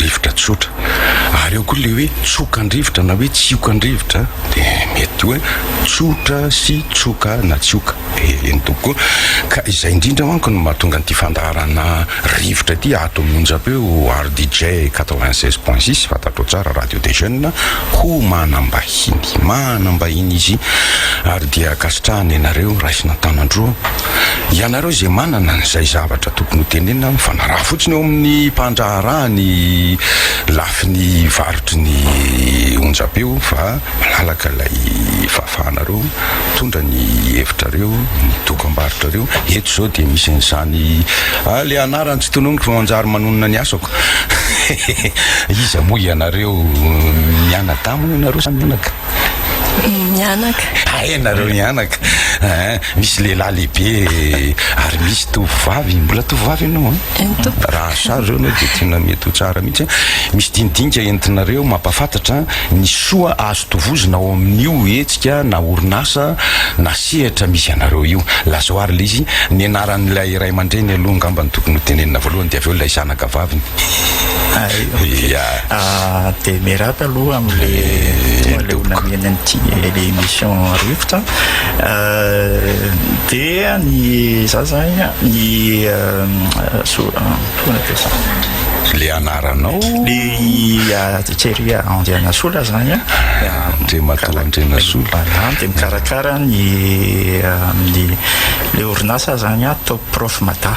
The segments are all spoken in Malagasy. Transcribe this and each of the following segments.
rivotra tsotra ary eo koa le hoe tsoka an-drivotra na hoe tsioka an-drivotra de mety hoe tsotra sy tsoka na tsioka de eny tokoa ka izay indrindra manko no mahatonga an'ity fandaharana rivotra ity ato amin'ny onjam-peo RDJ 96.6 fantatrao tsara radio des jeunes ho manam-bahiny manam-bahiny izy ary dia ankasitrahana ianareo raisina an-tanan-droa Ianareo izay manana izay zavatra tokony ho tenenina mifanaraha fotsiny eo amin'ny mpandraharaha ny lafiny varotry ny onjam-peo fa malalaka ilay fahafahanareo mitondra ny hevitrareo, ny dokam-barotrareo. Eto izao dia misy an'izany ah le anarany tsy tononiko fa manjary manonona ny asako. Iza moa ianareo mianadahy moa ianareo sa mianaka? Mianaka. Hay nareo mianaka. Hein, misy lehilahy lehibe ary misy tovovavy. Mbola tovovavy ianao an? Hein? Eny tompoko. Raha asary ireo anao dia tena mety ho tsara mihitsy an. Misy dinidinika entinareo mampahafantatra ny soa azo tovozina ao amin'io hetsika na orinasa na sehatra misy anareo io. Lazao ary ilay izy, ny anaran'ilay ray aman-dreny aloha angamba no tokony ho tenenina voalohany dia avy eo ilay zanaka vaviny. Hay, ok. Ya. Dia miarahaba aloha amin'le tonga leo namely an'ity émission rivotra dia ny za zany ny le anaranao le Thierry Andrianasola zany Andriamatoa Andrianasola dia mikarakara ny amin'ny le orinasa zany Top Prof Mada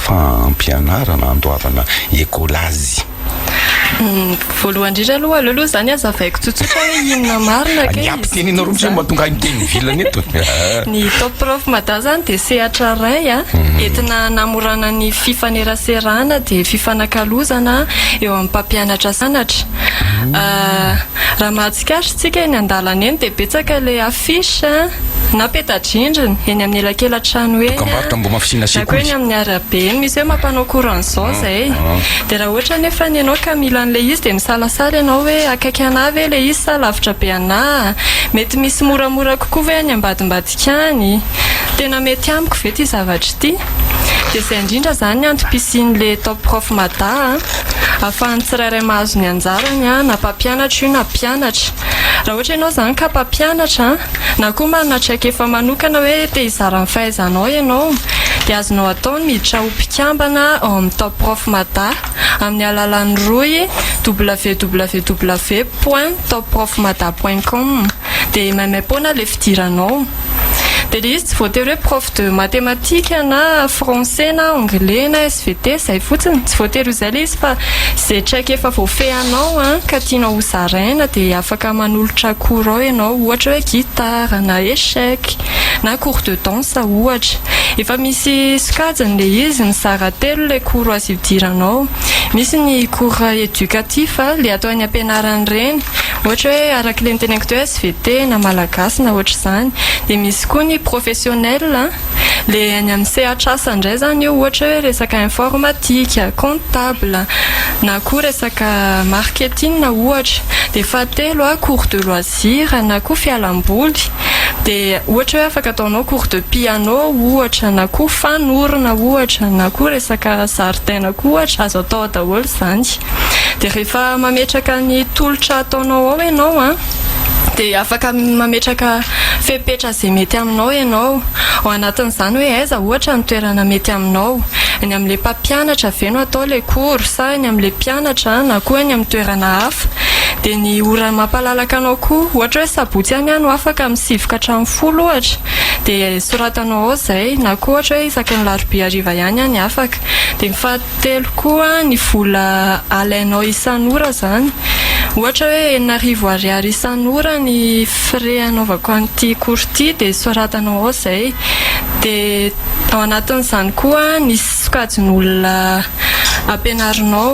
fampianarana handoavana ekolazy. Voalohany indrindra aloha, aleo aloha izany hazavaiko tsotsotra hoe inona marina kay izy ity izany. Ny ampitenenao roa indray mba tonga any teny ivelany eto. Ny Top Prof Mada izany dia sehatra iray entina hanamorana ny fifaneraserana dia fifanakalozana eo amin'ny mpampianatra sy mpianatra. Raha mahatsikaritra isika eny an-dalana eny dia betsaka ilay affiche na peta-drindrina eny amin'ny elakelan-trano eny na koa eny amin'ny arabe eny misy hoe mampanao courant izao izay. Dia raha ohatra anefa ianao ka mila an'ilay izy dia misalasala ianao hoe akaiky anà ve ilay izy sa lavitra be anà? Mety misy moramora kokoa ve any ambadimbadika any? Tena mety amiko ve ity zavatra ity? Dia izay indrindra izany ny antom-pisian'ilay Top Prof Mada a! ahafahan'ny tsirairay mahazo ny anjarany na mpampianatra io na mpianatra raha ohatra ianao izany ka mpampianatra na koa manana traikefa manokana hoe te hizara ny fahaizanao ianao dia azonao atao ny miditra ho mpikambana ao amin'ny top prof mada amin'ny alalan'ny rohy www point top prof mada point com dia maimaim-poana ilay fidiranao. Dia ilay izy tsy voatery hoe prof de mathématiques na français na anglais na SVT, izay fotsiny. Tsy voatery ho izay ilay izy fa izay traika efa voafehinao ka tianao ho zaraina dia afaka manolotra cours ao ianao, ohatra hoe guitare na échec na cours de danse ohatra. Efa misy sokajiny ilay izy, mizara telo ilay cours azo idiranao. Misy ny cours éducatif, ilay atao any am-pianarana ireny. Ohatra hoe araka le niteneniko teo svt na malagasy na ohatr'izany. Dia misy koa ny professionnel a, le any amin'ny sehatr'asa indray izany io ohatra hoe resaka informatique, comptable na koa resaka marketing ohatra. Dia fahatelo a cours de loisir na koa fialamboly, dia ohatra hoe afaka ataonao cours de piano ohatra na koa fanorona ohatra na koa resaka zaridaina koa ohatra, azo atao daholo izany. Dia rehefa mametraka ny tolotra ataonao ao ianao an, dia afaka mametraka fepetra izay mety aminao ianao. Ao anatin'izany hoe aiza ohatra ny toerana mety aminao. Any amin'ilay mpampianatra ve no atao ilay cours sa any amin'ilay mpianatra na koa any amin'ny toerana hafa. Dia ny ora mampalalaka anao koa, ohatra hoe sabotsy any aho no afaka amin'ny sivy ka hatramin'ny folo ohatra, dia soratanao ao izay, na koa ohatra hoe isaky ny larobia hariva ihany aho ny afaka. Dia ny faha. Telo koa ny vola alainao isan'ora zany ohatra hoe enina arivo ariary isan'ora ny frais anaovako an'ity cours ity dia soratanao ao zay dia ao anatin'izany koa ny sokajin'olona ampianarinao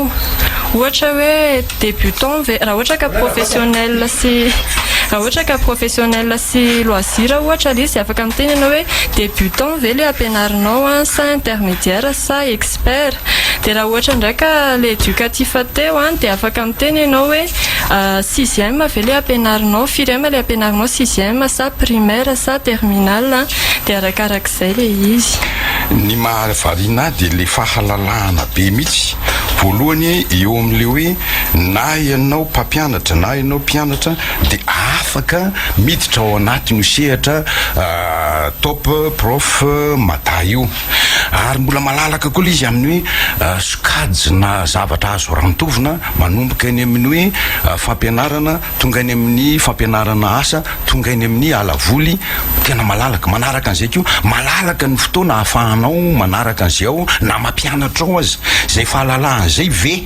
ohatra hoe débutant ve raha ohatra ka professionnel sy raha ohatra ka professionnel sy loisir ohatra le izy afaka miteny ianao hoe débutant ve le ampianarinao sa intermédiaire sa expert dia raha ohatra indray ka ilay educatif teo an dia afaka miteny ianao hoe sixième ve ilay ampianarinao, firy ème ilay ampianarinao sixième sa primaire sa terminale an dia arakarak'izay ilay izy. Ny mahavariana ahy dia ilay fahalalahana be mihitsy voalohany eo amin'ilay hoe na ianao mpampianatra na ianao mpianatra dia afaka miditra ao anatin'io sehatra top prof mada io. ary mbola malalaka koa ilay izy amin'ny hoe sokajina zavatra azo rantovina manomboka eny amin'ny hoe fampianarana tonga eny amin'ny fampianarana asa tonga eny amin'ny alavoly tena malalaka manaraka an'izay koa malalaka ny fotoana hahafahanao manaraka an'izay ao na mampianatra ao aza izay fahalalahan'izay ve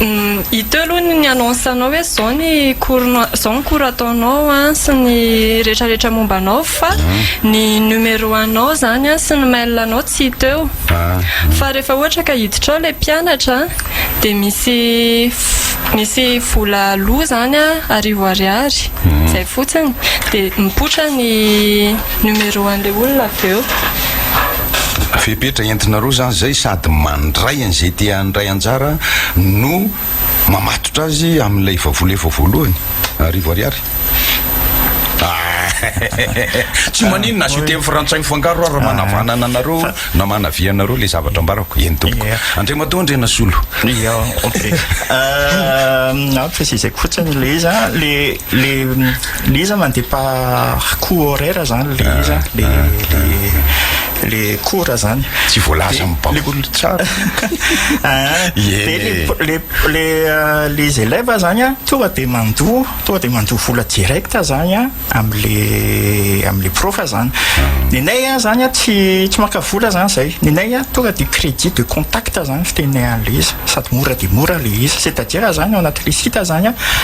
Hita eo aloha ny annonce anao hoe izao ny cours-nao, izao ny cours ataonao an, sy ny retraretra momba anao fa ny numéro anao izany an, sy ny mail anao tsy hita eo. Fa rehefa ohatra ka hiditra ao ilay mpianatra an, dia misy misy vola aloa izany an, arivo ariary, izay fotsiny, dia mipoitra ny numéro an'ilay olona avy eo. Fepetra entinareo izany izay sady mandray an'izay te handray anjara no mamatotra azy amin'ilay vavola efa voalohany, arivo ariary. Tsy maninona, asio teny frantsay mifangaro ary manavanana anareo na manavia anareo ilay zavatra ambarako, eny tompoko. Andriamatoa Andrianasolo. Io, ok. Ampy, izay fotsiny ilay izy an, ilay Le le izy mandeha pa coup horaire zany le izy le le le cours zany. Tsy voalaza amin'ny banc. Le olona tsara. Ah, de le le le les élèves zany a tonga de mandoa tonga de mandoa vola direct zany a amin'le amin'le prof zany. Ny anay a zany a tsy tsy maka vola zany zay. Ny anay a tonga de crédit de contact zany fitenenay an'le izy sady mora de mora le izy c'est à dire zany ao anatin'le site zany a.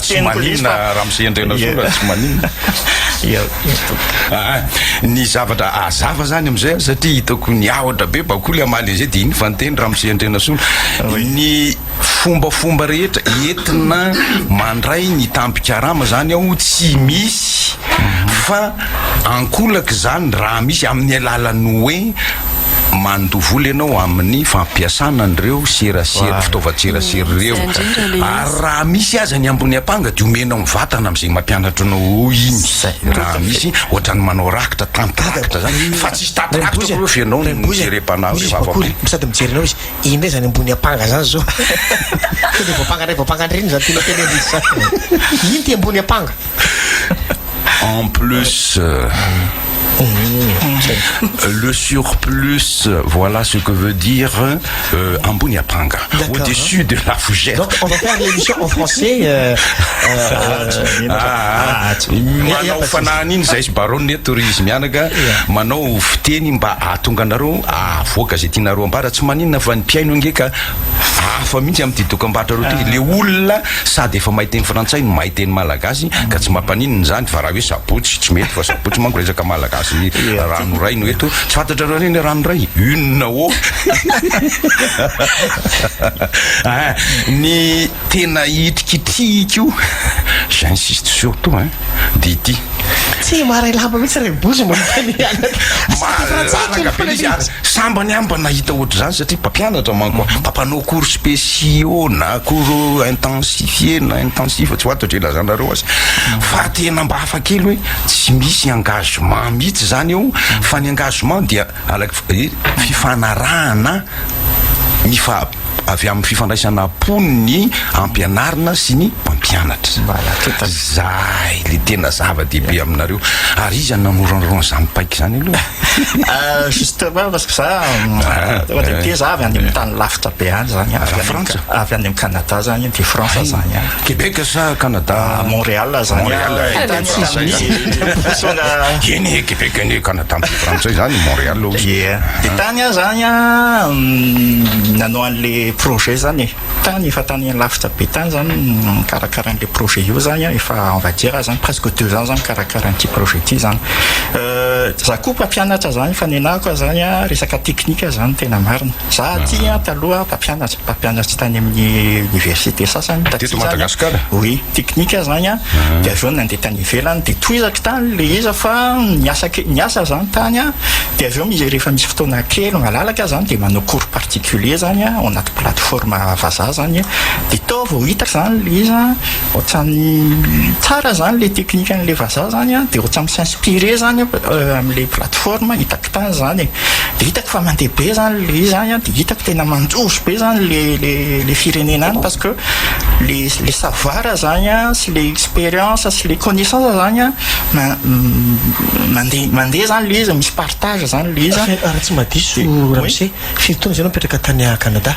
Tsy maninona ramose andrianasoa raha tsy maninona aa ny zavatra azava zany amizay an satria hitako ny ahotra be bakoly amaly anizay de iny fa niteny ramose andrianasoa ny fombafomba rehetra entina mandray ny tampikarama zany aho tsy misy fa Ankolaka izany raha misy amin'ny alalan'ny hoe mandoa vola ianao amin'ny fampiasana an'ireo serasera, fitaovan-tserasera ireo. Ary raha misy aza ny ambony ampanga dia omenao ny vatana amin'izay mampianatra anao iny. Raha misy ohatran'ny manao rakitra, tantirakitra izany, fa tsisy tantirakitra akory fa ianao no jerem-panahy hoe vavampory. Misy sady mijery anao izy, iny indray izany ambony ampanga izany izao. Tonga dia voampanga indray, voampanga indray, iny izany tianao tenenina izany. Iny ity ambony ampanga. En plus, le surplus, voilà ce que veut dire euh, ambony apanga. Au-dessus de la fougère. Donc on va faire l'émission en français. Euh, euh, ah, manao fanahany iny zay sy baronne eto ry izy mianaka manao fiteny mba ahatonga anareo ahavoaka zay tianareo ambara tsy maninona fa ny mpihaino ange ka hafa mihitsy amin'ity dokam-barotra reo ty le olona Sady efa mahay teny frantsay no mahay teny malagasy ka tsy mampaninona izany fa raha hoe sabotsy tsy mety fa sabotsy manko resaka malagasy ny raha noraino eto tsy fantatrareo re ny raha noray une ô ny tena hitrikitrihiko j'insiste surtout hein dia ity. Tsy maray lamba mihitsy ry Bozy mba mifanehana. Malalaka be izy ary sambany amba nahita ohatr'izany satria mpampianatra manko an. Mba mpanao cours spéciaux na cours intensifiés na intensifs tsy ho ato dre lazanareo azy. Fa tena mba hafa kely hoe tsy misy engagement mihitsy izany eo fa ny engagement dia Araka fifanarahana mifa avy amin'ny fifandraisana am-pony ny ampianarina sy ny mpampianatra. Zay le tena zava-dehibe aminareo. Ary iza no nanoranoran' izany paika izany aloha e? Justement parce que za ohatra ity za avy any amin'ny tany lavitra be any zany an. Frantsa? Avy any amin'ny Canada zany an, de France zany an. Québec sa Canada? Montréal zany an. Montréal, any Etazonia. Eny e, Québec anie Canada. Tamin'izay fotoana izay izany i Montréal hoy izy. Ie. Dia tany aho izany an, nanao an'ilay projet izany e. Tany, efa tany lavitra be tany izany no nikarakara an'ilay projet io izany an, efa on va dire izany presque deux ans izany mikarakara an'ity projet ity izany. Izaho koa mpampianatra izany, fa ny anahako izany an, resaka teknika izany tena marina. Za aty an taloha mpampianatra, mpampianatry tany amin'ny université sasany taty Teto zany an. Madagasikara? Oui, teknika zany an, dia avy eo nandeha tany ivelany dia tohizako tany le iza fa niasa ke- niasa za tany an, dia avy eo mi- rehefa misy fotoana kely malalaka zany dia manao cours particulier zany an ao anaty plateforme vazaha zany, dia tao vao hitako zany le iza an, ohatran'ny tsara zany le teknikan'le vazaha zany an, dia ohatran'ny mi-s'inspirer zany aho, euh, am'le plateforme hitako. tany izany e, dia hitako fa mandeha be izany ilay izy any an, dia hitako tena manjozo be izany ilay ilay ilay firenena any parce que ilay ilay savoir izany an, sy ilay expérience sy ilay connaissance izany an, ma- m- mandeha mandeha izany ilay izy, misy partage izany ilay izy an. Raha tsy mahadiso, Oui. Ramose, firy taona izay ianao nipetraka tany Canada?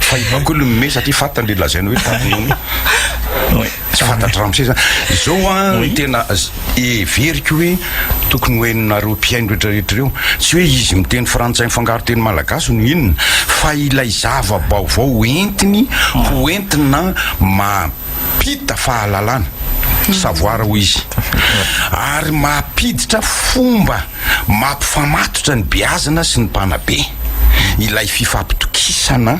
Fa i Bako aloha nomey satria fantany le lazainy hoe tamin'iny. Tsy fantatr'i Ramsey zany. Izao an, ny tena heveriko hoe tokony ho hainareo mpihaino rehetrarehetra ireo, tsy hoe izy miteny frantsay mifangaro teny malagasy no inona fa ilay zava-baovao ho entiny ho entina mampita fahalalana, savoir hoy izy, ary mampiditra fomba. Mampifamatotra ny beazina sy ny mpanabe ilay fifampitokisana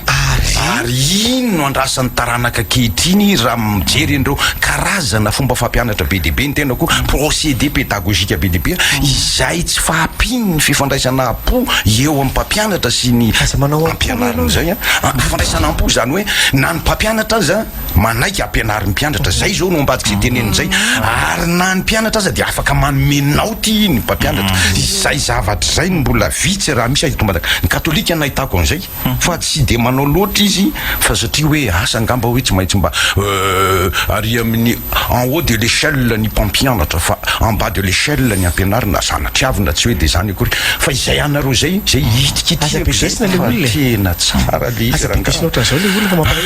ary iny no andrasan'ny taranaka ankehitriny raha mijery an'ireo karazana fomba fampianatra be dia be, ny tenako hoe procédé pédagogique be dia be, izay tsy fahampian'ny fifandraisana am-po eo amin'ny mpampianatra sy ny mpampianarina izay. Fifandraisana am-po izany hoe na ny mpampianatra aza. Manaiky ampianary ny mpianatra, izay izao no ambadik'izay teneniny izay, ary na ny mpianatra aza dia afaka manome naoty ny mpampianatra. Izay zavatra izay no mbola vitsy, raha misy, azo itombana. Ny Katolika no nahitako an'izay, fa tsy dia manao loatra izy, fa satria hoe asa angamba hoe tsy maintsy mba ary amin'ny en haut de l'échelle ny mpampianatra, fa en bas de l'échelle ny ampianarina, zana-triavy na tsy hoe dia izany akory, fa izay anareo izay, izay ihitikitihako izay. Aza bedesina ilay olona e! Fa tena tsara ilay izy rangahy a! Aza bedesina ohatran'izao ilay olona fa mampalahelo.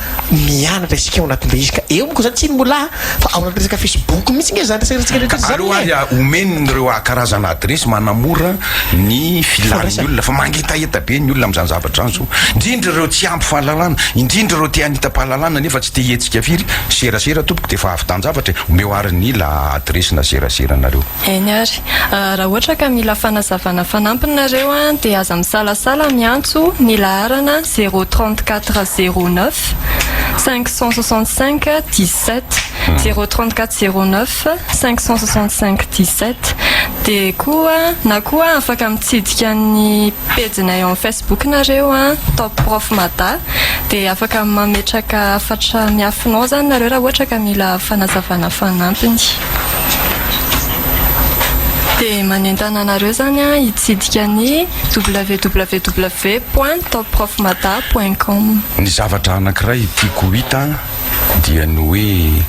Mianatra isika ao anatin'ilay izy ka eo manko izany tsy inmolà fa ao anatin'ny resaka facebook mihitsy nge izany resaresatsika rehetra izany Aleo ary e! omeny ireo karazana adresy manamora ny filan'ny olona fa mangetaheta be ny olona amin'izany zavatra izany zao indrindra ireo tsy ampy fahalalana indrindra ireo te hanitam-pahalalana nefa tsy te hihetsika firy serasera tompoko dia efa avy tan-javatra e! omeo ary ny la adresy na serasera anareo. Eny ary. Raha ohatra ka mila fanazavana fanampiny nareo dia aza misalasala miantso ny laharana zéro trente quatre zéro neuf cinq cent soixante cinq dix sept, zéro trente quatre zéro neuf cinq cent soixante cinq dix sept, dia koa na koa afaka mitsidika ny pejinay en Facebook nareo Top Prof Mada dia afaka mametraka hafatra miafina ao zany nareo raha ohatra ka mila fanazavana fanampiny. Dia manentana anareo izany an, hitsidika ny www point topprofmada point com. Ny zavatra anankiray tiako ho hita dia ny hoe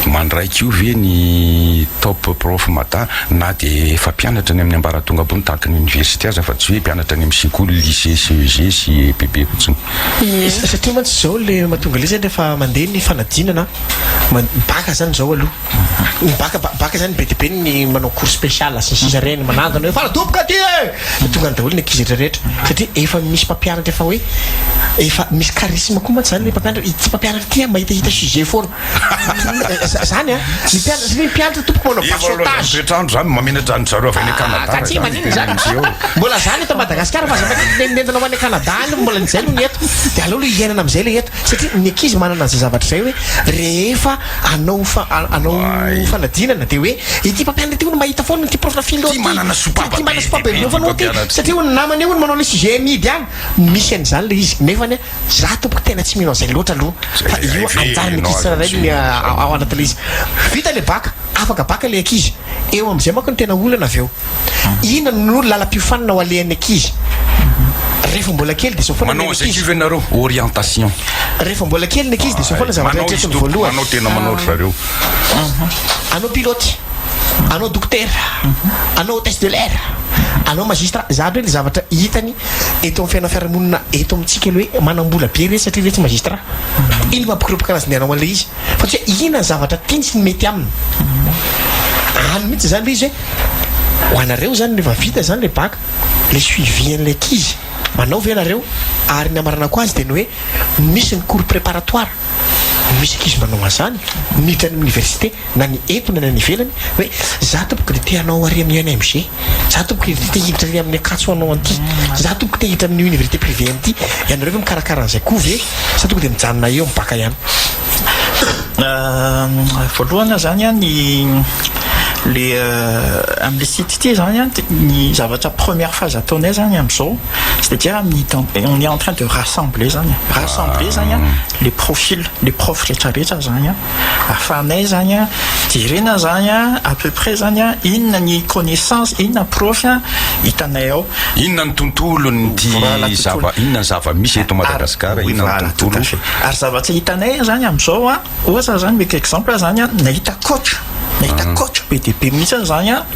mandraika io ve ny topprofmada na dia efa mpianatra any amin'ny ambaratonga ambony tahaka ny oniversite aza fa tsy hoe mpianatra any amin'ny sekoly, lycée, CEG sy EPB fotsiny. Ie. Satria mantsy izao ilay mahatonga ilay izany rehefa mandeha ny fanadinana an, bacc izany izao aloha. Ny baka baka zany be de be ny manao cours spécial sy ny sisa reny manangana hoe fara doboka aty e de tonga any daholo ny ankizy rehetra satria efa misy mpampianatra efa hoe efa misy charisme koa mantsy zany le mpampianatra ity mpampianatra ity a mahita hita sujet foana zany a ny mpianatra satria ny mpianatra tompoko manao basotage toetrandro zany mamenatra an'i zareo avy any Canada ka tsy maninona zany mbola zany eto Madagascar fa zany nentina ho any Canada any mbola ny zay no ny eto de aleo lo hiainana amizay le eto satria ny ankizy manana an'izay zavatra zay hoe rehefa anao anao fanadinana dia hoe ity mpampianatra ity hono mahita foana ity prof na philo ity manana sopapa ity manana sopapa be hono ity satria hono namany hono manao le sujet amidy any misy an'izany le izy nefa ny za tompoko tena tsy mino an'izay loatra aloha fa io anjany ny ankizy tsirairay ny ao anaty le izy vita le baka afaka baka le ankizy eo amin'izay manko ny tena olana avy eo Inona no lalam-piofanana ho alehan'ny ankizy rehefa mbola kely dia izao foana Manao ny an'izay ankizy. kivy ianareo, orientation. Rehefa mbola kely ny ankizy dia izao foana ny zavatra Manao eritreretiny izy voalohany. manao tena manao ry zareo. Anao pilote, anao dokotera, anao hôtesse de l'air, anao magistrat. Izany hoe ny zavatra hitany eto amin'ny fiainan'ny fiarahamonina eto amintsika ilay hoe manam-bola be re satria re tsy magistrat. Inona no mampikorapaka anazy ny hanao an'ilay izy? fa tsy hoe inona ny zavatra tiany sy ny mety aminy. Any mihitsy izany ilay izy hoe ho anareo izany rehefa vita izany ilay bac, ilay suivi an'ilay ankizy, manao ve ianareo? Ary ny hamaranako azy dia ny hoe misy ny cours préparatoire, misy ankizy manao an'izany miditra any amin'ny université na ny eto na ny any ivelany hoe za tompoko dia te hanao ary amin'ny ENMG. za tompoko i te hiditra ny amin'ny akatso anao anty za tompoko te hiditra amin'ny université privé anty ianareo ve mikarakara an'izay koa ve sa toko dia mijanona eo amin'ny baka ihany euh, voalohana zany an ny le euh, amle site ity zany an ny zavatra première phase ataonay zany am'izao c'est-à-dire amin'ny on est en train de rassembler zany rassembler zany an ah. le profil le prof rehetrarehetra zany an Ahafahanay zany an, jerena zany an, à peu près zany an, inona ny connaissance, inona profy an, hitanay ao. Inona ny tontolon'ity zava, inona ny zava misy eto Madagasikara, inona ny tontolo. Ary zava-tsy hitanay zany amizao an, ohatra zany mety exemple zany an, nahita coach, nahita coach be dia be mihitsy aza zany an.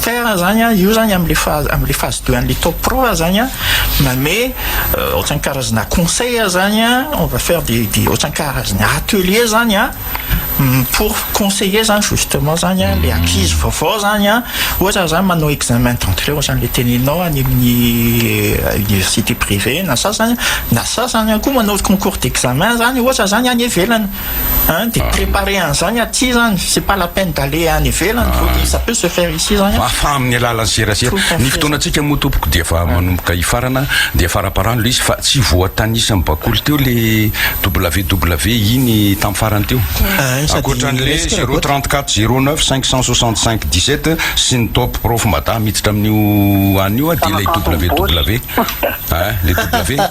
Faire zany an, io zany amle phase amle phase deux anle top pro zany an, mame ohatrany karazana conseil zany an, on va faire des des ohatrany karazana atelier zany an, pour conseiller zany justement zany an le ankizy vaovao zany an, ohatra zany manao examen d'entrée ohatrany le tenenao any aminy université privée na sasany, na sasany koa manao concours d'examen zany ohatra zany any ivelany. Hein de preparer an'izany aty izany, c'est pas la peine d'aller any ivelany vao dia ça peut se faire ici izany an! Fa amin'ny alalan'ny serasera. Tout à fait. Ny fotoanantsika moa tompoko dia efa manomboka hifarana dia faraparano ilay izy fa tsy voatanisa amin'ny bakoly teo ilay WW iny tamin'ny farany teo. Ah, sady Ankoatran'ilay resaka 034 raboto. 09 565 17 sy ny top prof mada miditra amin'io anio dia ilay WW. Hein, ilay W.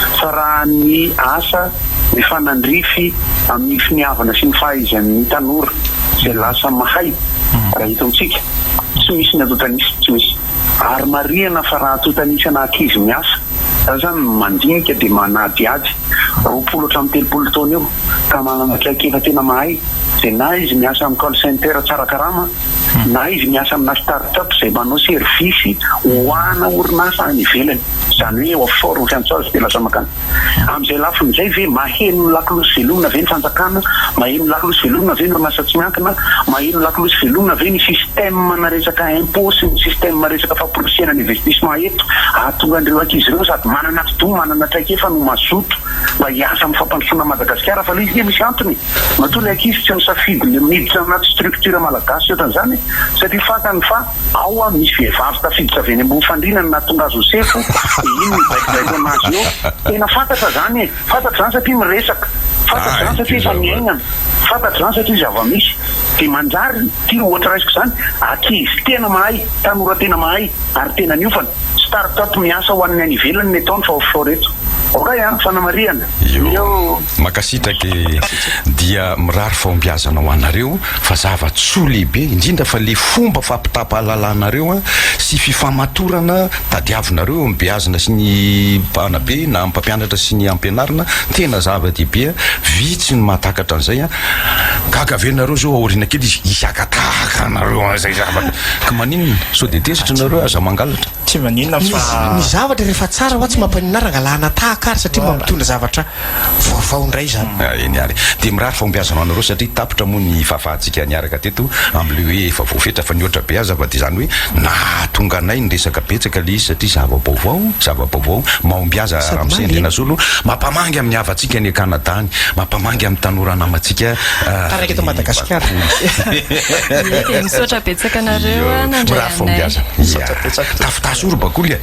fitsarahan'ny asa mifanandrify amin'ny finiavana sy ny fahaizan'ny tanora izay lasa mahay raha eto amintsika tsy misy ny antontanisa tsy misy ary marihana fa raha antontanisa na ankizy miasa za zany mandinika dia manadihady roapolo hatramin'ny telopolo taona eo ka manana traikefa tena mahay izay na izy miasa amin'ny call center tsara karama na izy miasa amina start-up izay manao servisy ho ana orinasa any ivelany, izany hoe eo Fort sy Antsazy dia lasa mankany. Amin'izay lafiny izay ve maheno ny lakolosy velomina ve ny fanjakana? Maheno ny lakolosy velomina ve ny orinasa tsy miankina? Maheno ny lakolosy velomina ve ny système-na resaka impôt sy ny système resaka famporisihana ny investissement eto hahatonga an'ireo ankizy ireo sady manana atidoha, manana traikefa no mazoto mba hiasa amin'ny fampandrosoana an'i Madagasikara fa ilay izy dia misy antony e! Matoa ny ankizy tsy misafidy ny miditra anaty structure malagasy ohatran'izany e! satria fantany fa ao an misy vehivavy tafiditra avy eny ambony fandriana no nahatonga azy ho sefo dia iny no hibaikobaikoana azy eo, tena fantatra izany e! fantatra izany satria miresaka, fantatra izany satria efa niainana, fantatra izany satria zava-misy, dia manjary ity ohatra raisiko izany, ankizy tena mahay, tanora tena mahay ary tena niofana, start-up miasa ho an'ny any ivelany ny ataony fa offshore eto. Okay an! Fanamarihana. Eo. Makasitraka e Dia mirary fahombiazana ho anareo fa zava-tsoa lehibe indrindra fa le fomba fampitapahalalanareo an sy fifamatorana tadiavinareo eo amin'ny beazina sy ny mpanabe na amin'ny mpampianatra sy ny ampianarina tena zava-dehibe an vitsy no mahatakatra an'izay an gaga ve nareo zao aoriana kely izy hisy haka tahaka anareo an'izay zavatra ka maninona sao dia tezitra nareo aza mangalatra Tsy maninona fa Ny zavatra rehefa tsara hoa tsy mampaninona ary angalana tahaka ary satria mba mitondra zavatra Vaovao indray izany. Eny ary dia mirary fahombiazana ho anareo satria tapitra moa ny fahafahantsika niaraka teto amin'ilay hoe efa voafetra fa nihoatra be aza fa dia izany hoe nahatonga anay niresaka betsaka ilay izy satria zava-baovao zava-baovao mahombiaza Ramose Andrianasolo mampamangy amin'ny havantsika any Canada any mampamangy amin'ny tanora namantsika taraiky eto Madagasikara dia misaotra betsaka anareo nandray anay misaotra betsaka tafitaha sorobakoly e.